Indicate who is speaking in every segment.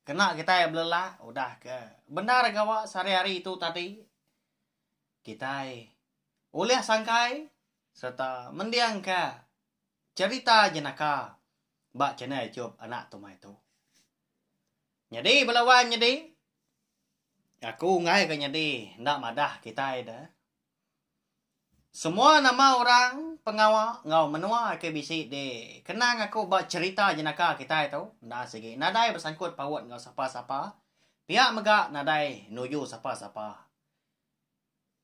Speaker 1: Kena kitai belelak udah ke bendar gawa sehari-hari tu tadi, kitai ulih sangkai sereta mendingka cherita jenaka ba channel YouTube Anak Tumai tu. Nyadi bela wan nyadi, aku enggai ke nyadi enda madah kitai da Semua nama orang, pengawa enggau menua ke bisi di kenang aku ba cherita jenaka kitai tu enda sigi nadai besangkut paut enggau sapa-sapa pia mega nadai nuju sapa-sapa.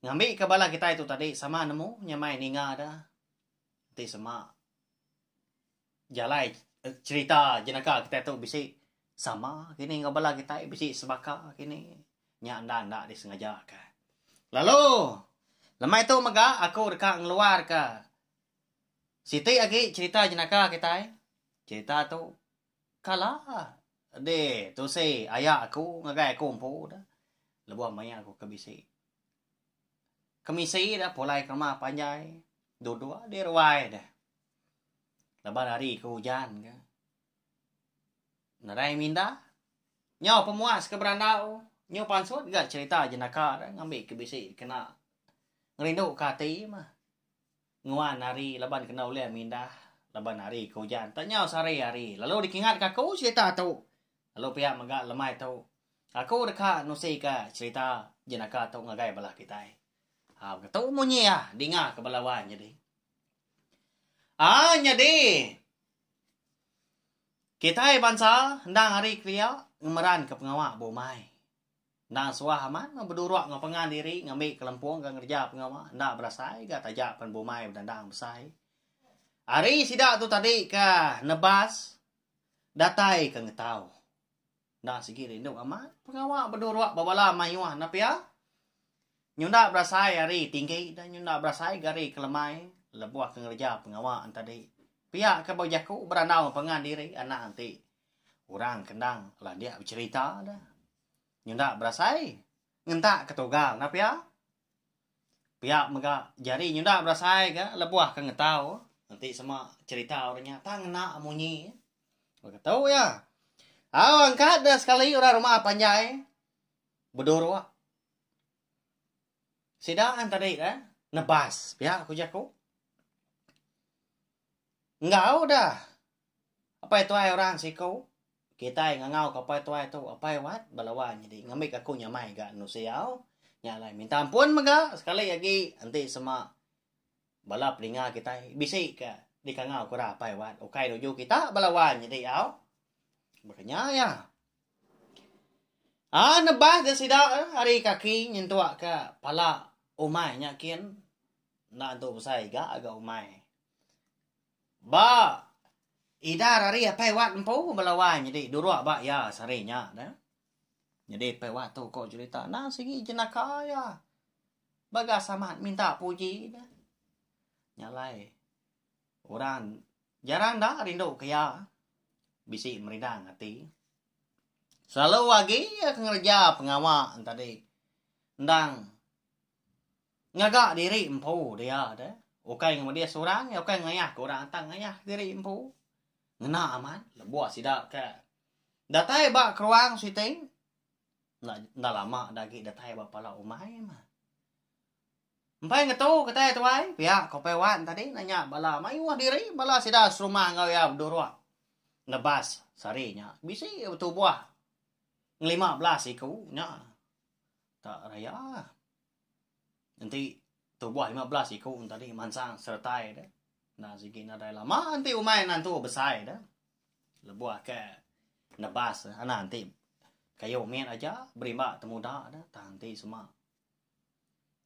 Speaker 1: Ngambi ke bala kitai tu tadi sama nemu nya mai ninga da enti sema. jalai cherita jenaka kitai tu bisi sama kini enggau bala kitai bisi sebaka kini nya enda enda disengaja ka lalu lemai tu mega aku deka ngeluar ka siti agi cherita jenaka kitai cherita tu kala di tusi aya aku ngagai aku empu da lebuh maya aku ke bisi kemisi da pulai ke uma panjai duduk di ruai da Laban hari ke ujan ke. Nerai minda. Nyau pemuas ke berandau. Nyu pansut ga cerita jenaka da ngambi ke bisi kena ngerindu ke ati mah. Nguan hari laban kena ulih minda laban hari ke ujan. Tak nyau sehari hari lalu dikingat ke aku cerita tu. Lalu pia mega lemai tu. Aku deka nusi ke cerita jenaka tu ngagai bala kitai. Ha begitu munyi iya dinga ke bala wan nyadi. Aa nyadi. Kitai bansa endang ari kelia ngemeranka pengawa ba umai. Endang suah amat meh bedurok enggau pengan diri ngambi kelempung enggau ngereja pengawa enda berasai ga taja pen ba umai bedendang besai. Ari sida tu tadi ka nebas datai ka ngetau. Enda sigi rindu amat. Pengawa beduruk bebala mayuh enda pia. Nyunda berasai ari tinggi dan nyunda berasai ga ari kelemai lebuh ke ngereja pengawa entadi. Pia ke bau jaku berandau pangan diri anang ti orang ke endang landik becerita da. Nyunda berasai ngentak ketugal enda pia. Pia mega jari nyenda berasai ga lebuh ke ngetau enti sema cerita orang nya tang ngena munyi. Baka tu ya. Au angkat dah sekali orang rumah panjai beduruk. Sida an tadi eh nebas pia ku jaku. Enggau dah Apai tuai orang siku kitai ngangau ka apai tuai tu apai wat belawa nyadi ngambika aku nyamai ga anu siau nya alai minta ampun mega sekali agi enti sema bala peninga kitai bisi ka dikangau kura apai wat ukai nuju kita belawa nyadi au meh ka nya iya. Aaa nebas da sida ari kaki nyentuk ka pala umai nya kin enda tentu besai ga ga umai. Ba Idar ari Apai Wat empu bala wai nyadi durok ba iya sehari nya da. Nyadi Apai Wat tu ko cherita endang sigi jenaka iya ba gas amat minta puji da. Nya alai orang jarang da rindu ke iya bisi merindang ati. Selalu agi iya ke ngereja pengawa tadi endang Ngaga diri empu dia deh. Ukai ngemudi seorang iya ukai ngayah ke orang tang ngayah diri empu. Ngena amat lebuh sida ke datai ba keruang siti enda enda lama da agi datai ba pala umai mah. Empai ngetu kitai tuai pia ko Upai Wan tadi enda nya bala mayuh diri bala sida serumah enggau iya beduruk nebas sehari nya bisi betubuh ngelima belas iku nya tak raya. enti tubuh lima belas iku tadi mansang seretai de enda sigi nadai lama enti umai nantu besai de lebuh ke nebas anak enti kayu mit aja berimba temuda de tang enti sema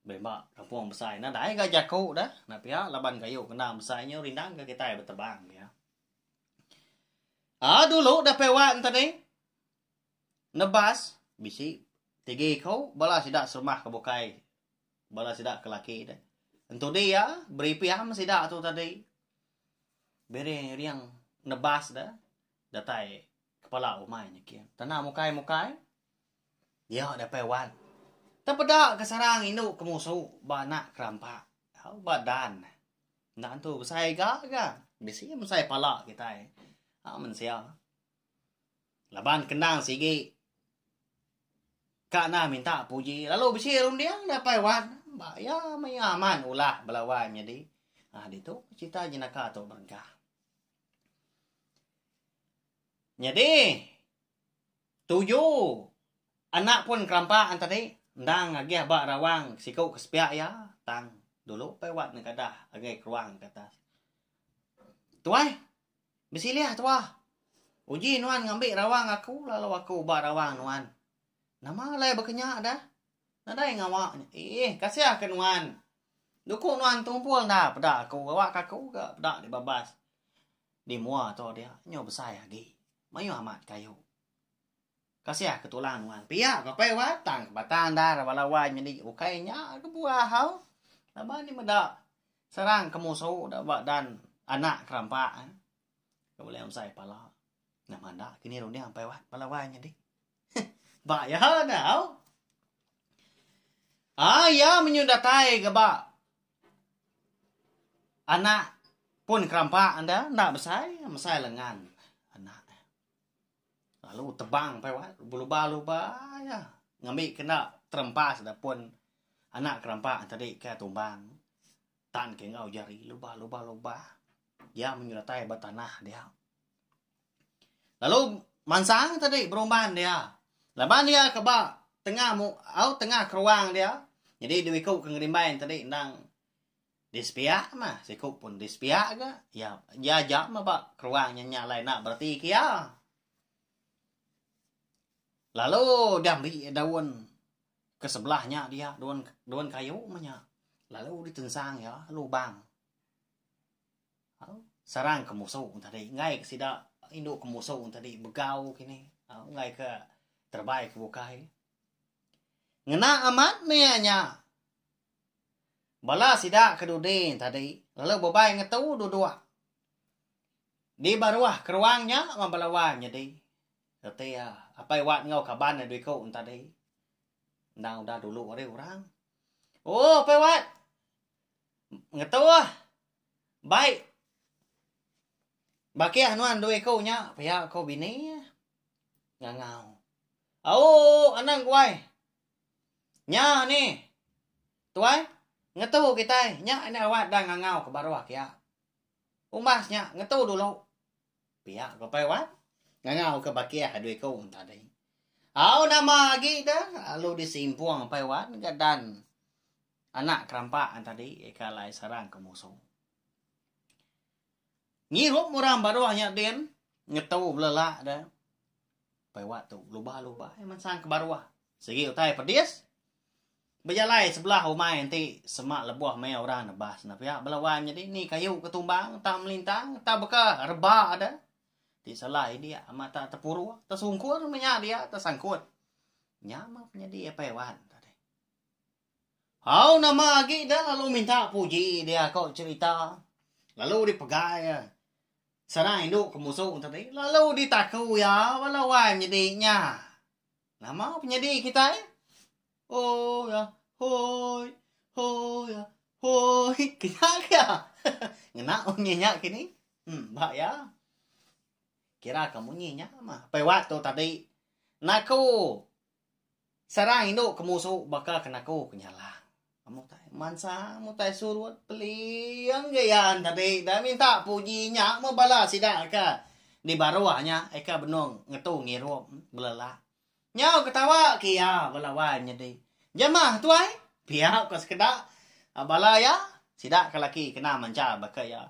Speaker 1: berimba kampung besai nadai ga jaku de enda pia laban kayu kena besai nyu rindang ke kitai betebang pia. Aa dulu dapih wan tadi. Nebas bisi tigi ko bala sida serumah ke bukai bala sida ke laki deh entudi iya beri pian sida tu tadi biring iring nebas deh datai kepala umai nyikin tana mukai mukai iya dapai wan tang peda ke sarang indu ke musu ba anak ke rampa tau ba dan enda tu besai ga ga bisi besai pala kitai a mensia. Laban kendang sigi ka nah minta puji lalu bisi runding da pai wat ba iya maya aman ulah belawai menyadi. Ha ditu cerita jenaka tu berengka. Nyadi tuju anak pun kerampak tadi endang agih ba rawang siku ke sepiak iya tang dulu pai wat nengkadah ngagai ke ruang ke atas. Tuai Besilih tuah. Uji nuan ngambi rawang aku lalu aku uba rawang nuan. Nama alai bekenya dah? Nadai ngawa nya. Eeh, kasih ke nuan. Duku nuan tumpul enda peda aku gawa ke aku ga peda di babas. Di mua tu dia nyu besai agi. Mayuh amat kayu. Kasih ke tulang nuan pia ke apai wai tang ke batang endar bala wai nyadi ukai nya ke buah hau laban nya meda serang ke musu da ba dan anak ke rampa ke bulih amsai pala nama enda kini runding apai wai bala wai nyadi heh ba iya da hau ai iya menyun datai ke ba anak pun ke rampa enda enda besai mesai lengan anak. Lalu tebang pai wak beluba luba ya ngembi kena terempas da pun anak kerempa tadi ke tumbang tan ke enggau jari luba luba luba ya menyertai ba tanah dia. Lalu mansang tadi berumban dia laban dia ke ba tengah mu au tengah keruang dia jadi diwiku ke ngerimban tadi endang Disepiak mah siku pun disepiak ga ya ya ja mah ba keruang nya nya alai nak bereti ke iya. Lalu diambi daun ke sebelah nya dia daun daun kayu mah nya lalu ditensang iya lubang serang ke musu tadi enggai ke sida indu ke musu tadi begau kini enggai ke terebai ke bukai. Ngena amat meh iya nya Bala sida ke dudi tadi lalu bebai ngetu duduk di ba ruah keruang nya wan bala wai nyedi reti iya apai Wat enggau kaban iya dua iku tadi. Endang udah dulu ari orang. Oh, Apai Wat. Ngetu ah. Baik. Bakih nuan dua iku nya pia ko bini ngangau. Au, anang guai. Nya ni. Tuai, ngetu kitai nya enda rawat dang ngangau ke baruh kiak. Umbas nya ngetu dulu. Pia ko pai wan. Ngangau ke bakih adu iku enta deh. Au nama agi de lalu di simpung pai wan ga dan anak kerampak enta di ika alai sarang ke musu. Ngirup orang baruh nya din ngetu belelak de. Pai wak tu, luba-luba ai mensang ke baruh. Sigi utai pedis. Bejalai sebelah umai enti semak lebuh maya orang nebas ne pia bala wai menyadi ni kayu ke tumbang tang melintang tang beka reba de. Ti salah india amat tak tepuruh, tesungkur menya dia tesangkut. Nya mah penyadi pai wan. Au nama agi ida lalu minta puji dia ko cerita lalu di pegai iya sana indu ke musu tadi lalu di taku iya bala wai menyedi nya nama penyedi kitai ooh hoi hoi hoi kena ke iya ngena munyi nya kini ba iya kira ke munyi nya mah pebak tu tadi naku Serang indu ke musu baka ke naku ke nyalang. Mutai mansa, mutai surut, peling ge iya tadi da minta puji nya meh bala sida ke di baruh nya aka benung ngetu ngirup belelak. Nyau ketawa ke iya bala wai nyadi. Jemah tuai, Pia ko sekeda bala iya, sida ke laki kena mancha baka iya.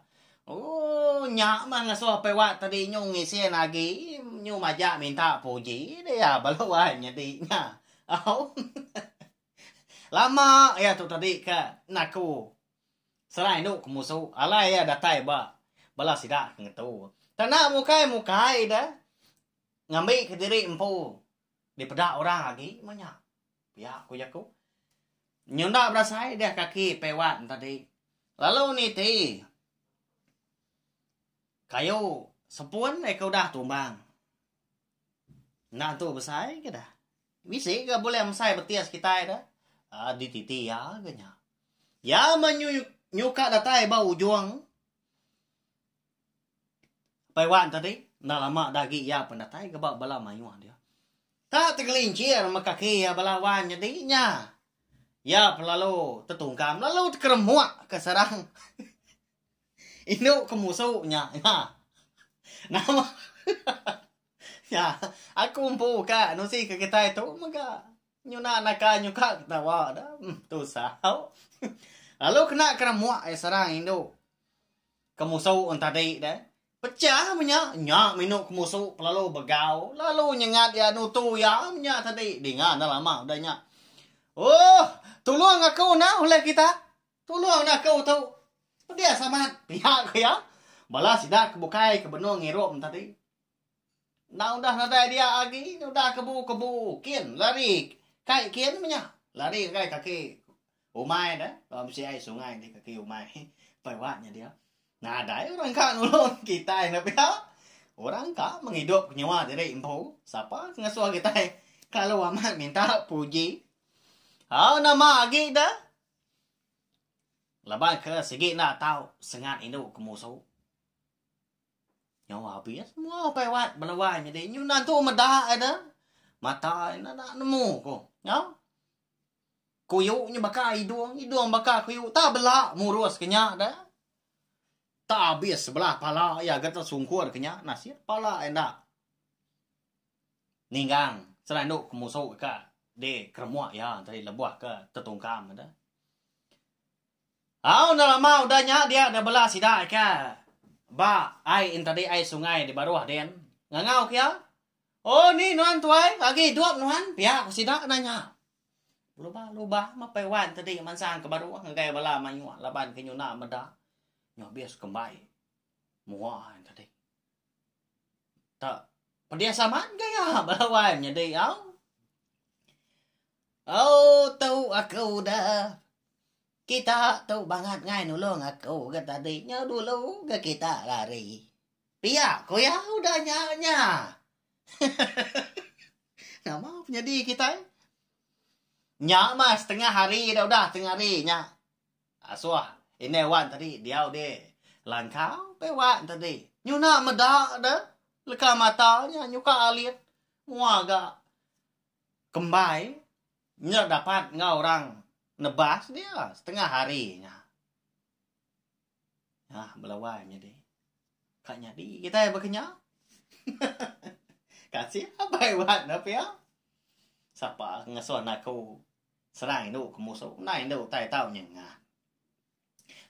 Speaker 1: Ooh nya meh ngasuh apai Wat tadi nyu ngisin agi nyu majak minta puji dia bala wan nyadi nya. Au. Lama iya tu tadi ke naku serai enu ke musu alai iya datai ba bala sida ke ngetu. Tana mukai-mukai deh ngambi kediri empu dipeda orang agi meh nya. Pia ku jaku. Nyunda berasai deh kaki pewan tadi. Lalu niti kayu sepun eh ke udah tumbang. Enda tu besai ke dah. Bisi ke bulih mesai betis kitai dah. Uh, dititi ya ke nya. Ya menyuka datai ba ujung Pai wan tadi enda lama da agi iya pun datai ke ba bala mayuh dia. Ta tegelincir me kaki iya bala wan nyadi nya. Iya pun lalu tetungkam lalu tekeremuk ke sarang indu ke musu nya. Nya. Nama nya aku empu ka nusi ke kitai tu mega nyuna naka nyuka ketawa da. Tusah. Lalu kena keremuk iya sarang indu. Kemusu en tadi deh. Pecah menya, nya minu kemusu pelalu begau, lalu nyengat iya nutu iya menya tadi. Dinga enda lama udah nya. Ooh, tulung aku enda ulih kita. Tulung enda aku tu. Pedis amat, pia ku iya. Bala sida ke bukai ke benung ngirup en tadi. Enda udah nadai dia agi nya udah kebu-kebu kin lari kai kin menya lari ngagai kaki umai deh bala mesti ai sungai di kaki umai pai wa nya dia nadai orang ka nulung kitai enda pia orang ka mengidup ke nyua diri empu sapa ngesuh kitai kelalu amat minta puji au nama agi da laban ke sigi enda tau sengat indu ke musu. Nyawa abis semua ukai wat belawai nyadi nyuna tu meda ada mata ina nak nemu ko. Nyau. Kuyu nyu baka idung, idung baka kuyu ta bela murus kenya da. Ta abis sebelah pala iya ga ta sungkur kenya nasib pala enda ninggang selandu ke musu ka di keremuk iya tadi lebuh ka tetungkam da. Au enda lama udah nya dia enda bela sida aka ba ai in tadi ai sungai di baruh din ngangau kia oh ni nuan tuai agi idup nuan pia ku sida enda nya belubah lubah mapai wan tadi mansang ke baruh ngagai bala mayuh laban ke nyuna meda nya abis kembai mua in tadi tak pedis amat gaya bala wan nyadi au. Au tu aku da kita tu bangat ngai nulung aku ga tadi nyau dulu ga kita rari pia ku iya udah nya nya hehehe nama penyadi kitai nya mah setengah hari dah udah setengah hari nya asuh indai wan tadi diau di langkau pia wan tadi nyuna meda da leka mata nya nyuka alit mua ga Kembai nya dapat enggau orang nebas dia setengah hari nya. Nah, belawai nyadi. Ka nyadi kitai baka nya. Kasih abai wat ne pia. Sapa ngasuh anak aku serang indu ke musuh, endang indu utai tau nyengah.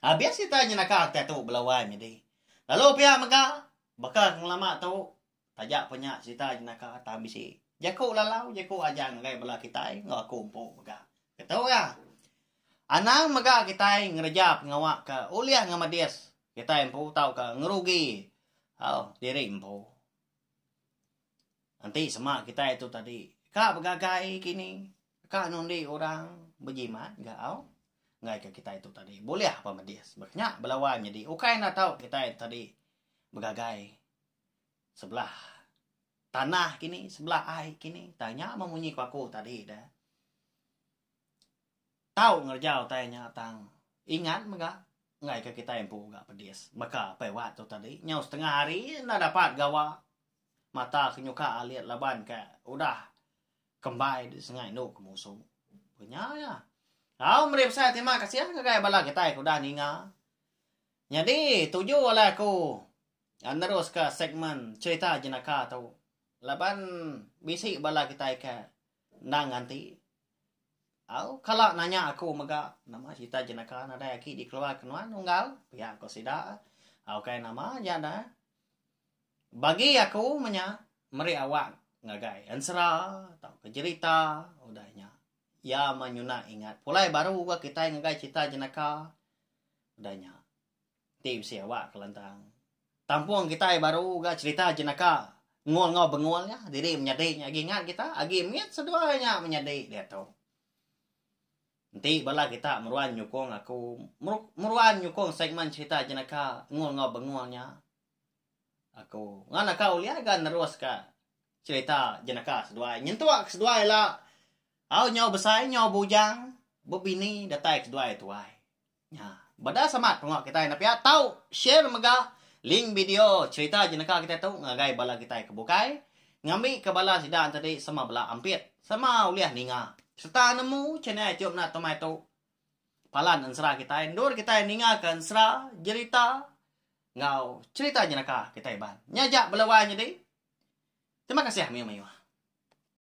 Speaker 1: Habis kitai nyenaka kitai tu belawai nyadi. Lalu pia mega baka ke ngelama tu Taja pa nya serita jenaka tang bisi jaku lalau jaku aja ngagai bala kitai enggau aku empu mega. Ketuga, anang mega kitai ngereja pengawa ke ulih ngemedis kitai empu tauka ngerugi au diri empu. Enti sema kitai tu tadi ka begagai kini, ka nundi orang bejimat ga au ngaika kitai tu tadi bulih pa medis. Ba nya belawan nyadi ukai enda tau kitai tadi begagai sebelah tanah kini, sebelah ai kini. Utai nya mah munyi ku aku tadi dah. Tau ngereja utai nya tang ingat mega ngai ke kitai empu ga pedis. Baka pai wat tu tadi, nyau setengah hari enda dapat gawa mata ke nyuka alit laban ke udah kembai di sengai endu ke musu. Ku nya ya. Au meri besai terima kasih ngagai bala kitai ke udah ninga. Nyadi tuju alai aku Neruska segmen cherita jenaka tu laban bisi bala kitai ke endang nganti au kala nanya aku mega nama cherita jenaka nadai aki dikeluarka nuan unggal pia ko sida au kai nama ja da bagi aku menya meri awak ngagai ensera tauka jerita udah nya ia menyuna ingat pulai baru kitai ngagai cherita jenaka udah nya. Ti bisi awak kelantang. Tampung kitai baru ga cerita jenaka ngul enggau bengul nya diri menyadi nya agi ngat kita agi mit seduai nya menyadi diatu. Enti bala kita meruan nyukung aku meruan nyukung segmen cerita jenaka ngul enggau bengul nya aku ngan aku ulih ga nerus ka cerita jenaka seduai nyentuk ke seduai la au nyau besai nyau bujang bebini datai ke seduai tuai. Nya. Badas amat pengawa kitai enda pia tau share mega link video cherita jenaka kitai tu ngagai bala kitai ke bukai ngambika bala sida entadi sama bela ampit sama ulih ninga serta nemu channel Ichum Nat Tomai tu palan ensera kitai endur kitai ningaka ensera jerita enggau cherita jenaka kitai iban. Nya aja bela wai nyadi. Terima kasih mayuh-mayuh.